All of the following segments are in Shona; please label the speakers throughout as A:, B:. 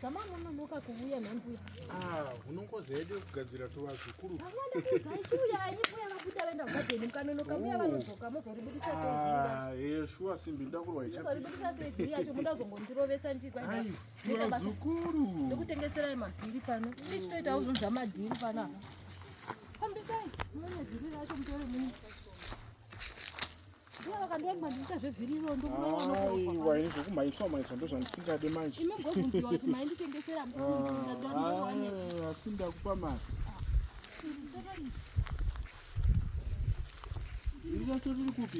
A: zvamanononoka kuvuya nhambuya ah, unongoza yedu yekugadzira tovazukuru shuwa simbi ndakurwa ichazongondirovesa ndikwazukuru ndikutengeserai mavhiri pano ndichitoitawo zvinhu zvamadhiri pano fambisai mune dhiri racho mutore muni zvekumhaiswa mhaiswa ndozvandisingade manje asi ndakupa mari iri racho riri kupi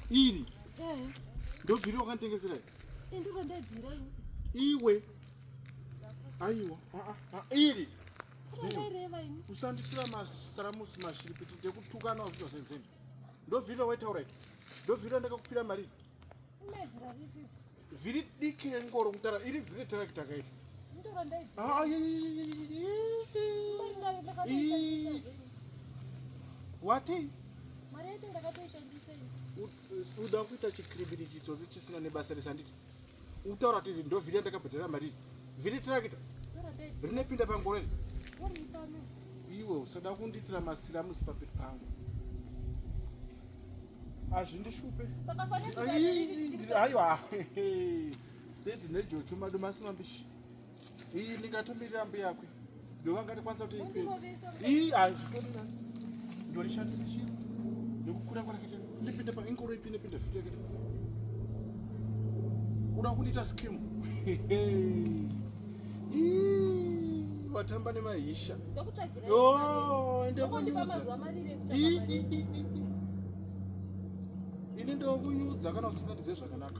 A: iri ndobviri wakanditengesera iwe aiwa iri usanditura masaramusi mashiripiti ndekutukana wazvitwa senzeni ndovhirira waitaura i ndovhirira ndakakupira mari vhiri diki rengoro kutara iri vhiri retarakita kairi wati uda kuita chikribiri chitsotsi chisina nebasa resanditi Utaura kuti iri ndovhiri yandakabhadhara mariri. Vhiri tirakita. Rinepinda pangoro iri. Iwe usada kundiitira masiramusi pamberi pangu. Hazvindishupe. Aiwa. State nejocho madomasi mambishi. iyi ndingatomirira mbuya kwe ndovangatikwanisa kuti iyi hazvitorina ndorishandisa chii nekukura kwanakete ndipinde pa inkoro ipinde pinde futi yakete uda kundiita skim watamba nemahisha ini ndokunyudza kana usingandize zvakanaka